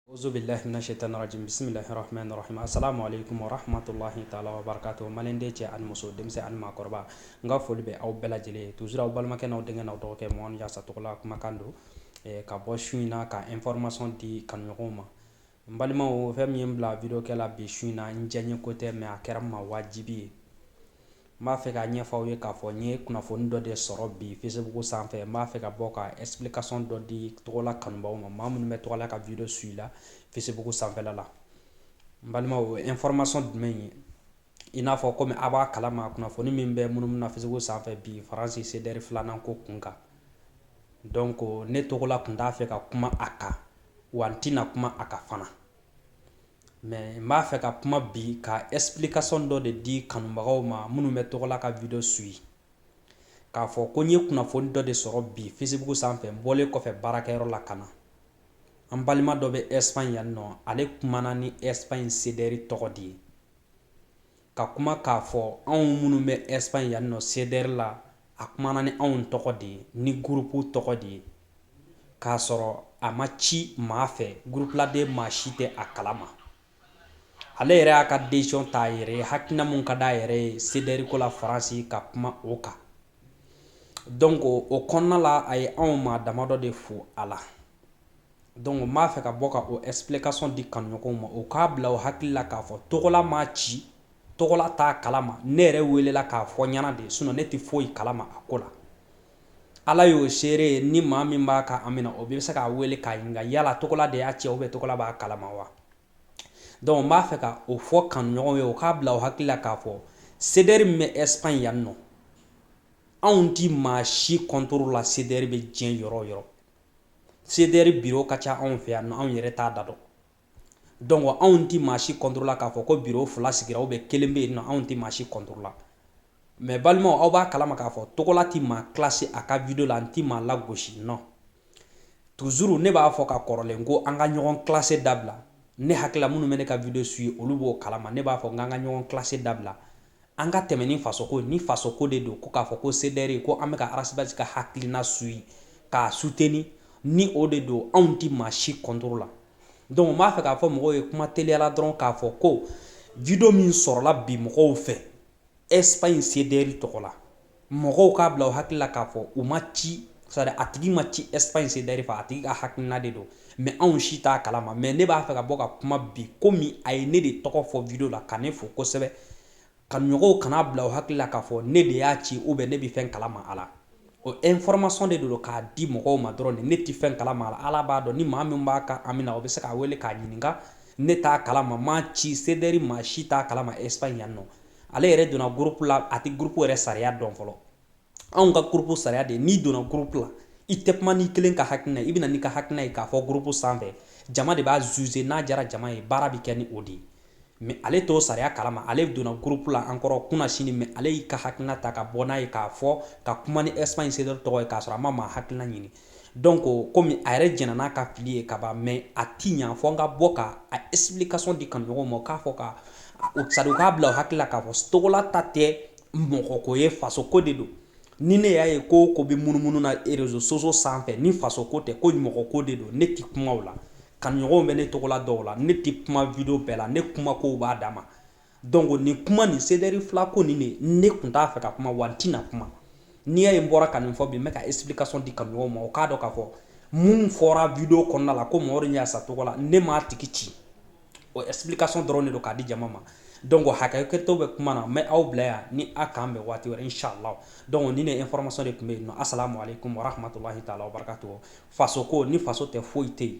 Awuzubillahi mina shaytani rajim bisimillahi rahmani rahim asalamu aleikum wa rahmatullahi ta'ala wa barakatu Maliden cɛ ani muso denmisɛnnin ani maakɔrɔba n ka foli bɛ aw bɛɛ lajɛlen ye toujours aw balimakɛ n'aw denkɛ n'aw dɔgɔkɛ mɔgɔ yasa tɔgɔla kumakan don ka bɔ su in na ka information di kanuɲɔgɔnw ma n balimaw fɛn min ye n bila video kɛ la bi su in na n diyanyeko tɛ mɛ a kɛra ma wajibi ye N b'a fɛ ka ɲɛfɔ aw ye k'a fɔ n ye kunnafoni dɔ de sɔrɔ bi Facebook sanfɛ n b'a fɛ ka bɔ ka explication dɔ di tɔgɔla kanubaaw ma maa minnu bɛ tɔgɔla ka video suivi la Facebook sanfɛla la n balimaw o ye information jumɛn ye i n'a fɔ komi a b'a kalama kunnafoni min bɛ munumunu na Facebook sanfɛ bi Faransi CDR filanan ko kun kan donc ne tɔgɔla tun t'a fɛ ka kuma a kan wa n tɛna kuma a kan fana Mɛ n b'a fɛ ka kuma bi ka explication dɔ de di kanubagaw ma minnu bɛ tɔgɔla ka video suivi k'a fɔ ko n ye kunnafoni dɔ de sɔrɔ bi Facebook sanfɛ n bɔlen kɔfɛ baarakɛyɔrɔ la ka na an balima dɔ bɛ Espagne yan nɔ ale kumana ni Espagne CDR tɔgɔ de ye ka kuma k'a fɔ anw minnu bɛ Espagne yan nɔ CDR la, a kumana ni anw tɔgɔ de ye, ni gurupu tɔgɔ de ye, k'a sɔrɔ a ma ci maa fɛ, gurupuladen maa si tɛ a kalama. Ale yɛrɛ y'a ka decision ta a yɛrɛ ye, hakilina min ka d'a yɛrɛ ye CDR ko la Faransi ka kuma o kan. donc o kɔnɔna la a ye anw maa dama dɔ de fo a la donc n b'a fɛ ka bɔ ka o explication di kanuɲɔgɔnw ma u k'a bila u hakili la k'a fɔ tɔgɔla m'a ci tɔgɔla t'a kalama ne yɛrɛ welela k'a fɔ ɲɛna de sinon ne tɛ foyi kalama a ko la ala y'o seere ye ni maa min b'a ka ami na o bɛ se k'a weele k'a ɲininka yala tɔgɔla de y'a ci ou bien tɔgɔla b'a kalama wa donc n b'a fɛ ka o fɔ kanuɲɔgɔnw ye u k'a bila u hakili la k'a fɔ CDR min bɛ Espagne yan nɔ anw tɛ maa si kɔntoro la CDR bɛ diɲɛ yɔrɔ o yɔrɔ CDR biro ka ca anw fɛ yan nɔ anw yɛrɛ t'a da dɔn donc anw tɛ maa si kɔntoro la k'a fɔ ko biro fila sigira ou bien kelen bɛ yen nɔ anw tɛ maa si kɔntoro la Mɛ balimaw aw b'a kalama k'a fɔ tɔgɔla tɛ maa kilase a ka video la n tɛ maa lagosi nɔ toujours ne b'a fɔ ka kɔrɔlen ko an ka ɲɔgɔn kilase dabila ne hakila minnu bɛ ne ka video suivi olu b'o kalama ne b'a fɔ n k'an ka ɲɔgɔn kilase dabila an ka tɛmɛ ni fasoko ni fasoko de don ko k'a fɔ ko CDR ko an bɛ ka Ras Bath ka hakilina suivi k'a suteni ni o de don anw tɛ maa si kɔntoro la donc n b'a fɛ k'a fɔ mɔgɔw ye kuma teliya la dɔrɔn k'a fɔ ko video min sɔrɔla bi mɔgɔw fɛ Espagne CDR tɔgɔ la mɔgɔw k'a bila u hakili la k'a fɔ u ma ci sari a tigi ma ci Espagne CDR fɛ a tigi ka hakilina de don mɛ anw si t'a kalama mɛ ne b'a fɛ ka bɔ ka kuma bi komi a ye ne de tɔgɔ fɔ video la ka ne fo kosɛbɛ kanuɲɔgɔnw kan'a bila u hakili la k'a fɔ ne de y'a ci ou bien ne bɛ fɛn kalama a la O information de don k'a di mɔgɔw ma dɔrɔn de, ne tɛ fɛn kalama a la, Ala b'a dɔn ni maa min b'a ka ami na, o bɛ se k'a wele k'a ɲininka, ne t'a kalama, m'a ci CDR maa si t'a kalama Espagne yan nɔ, ale yɛrɛ donna groupe la a tɛ groupe yɛrɛ sariya dɔn fɔlɔ, anw ka groupe sariya de ye n'i donna groupe la, i tɛ kuma n'i kelen ka hakilina ye, i bɛ na n'i ka hakilina ye k'a fɔ groupe sanfɛ, jama de b'a juger n'a diyara jama ye, baara bɛ kɛ ni o de ye. Mais ale t'o sariya kalama ale donna groupe la an kɔrɔ kunasinin mais ale y'i ka hakilina ta ka bɔ n'a ye k'a fɔ ka kuma ni Espagne CDR tɔgɔ ye k'a sɔrɔ a ma maa hakilina ɲini donc comme a yɛrɛ jɛnna n'a ka fili ye kaban mais a ti ɲa fo n ka bɔ ka a explication di kanuɲɔgɔnw ma k'a fɔ c'est-à-dire u k'a bila hakili la k'a fɔ Togola ta tɛ mɔgɔko ye fasoko de don ni ne y'a ye ko ko bɛ munumunu na réseaux sociaux sanfɛ ni faso ko tɛ ko mɔgɔ ko de don ne tɛ kuma la kanuɲɔgɔnw bɛ ne Togola dɔn o la ne tɛ kuma vidéo bɛɛ la ne kuma ko b'a dama donc ni kuma nin CDR fila ko nin de ne tun t'a fɛ ka kuma wa tɛna kuma n'i y'a ye bɔra ka nin fɔ bi bɛ ka explication di kanuɲɔgɔnw ma o k'a dɔn k'a fɔ minnu fɔra vidéo kɔnɔna la ko mɔgɔ y'a sa tɔgɔ la ne m'a tigi ci o explication dɔrɔn de don k'a di jama ma donc hakɛto bɛ kuma na n bɛ aw bila yan ni a k'an bɛn waati wɛrɛ inshallah donc ni ne information de tun bɛ yen nɔ assalamu alaikum warahmatullahi taala wabarakatuh faso ko ni faso tɛ foyi tɛ yen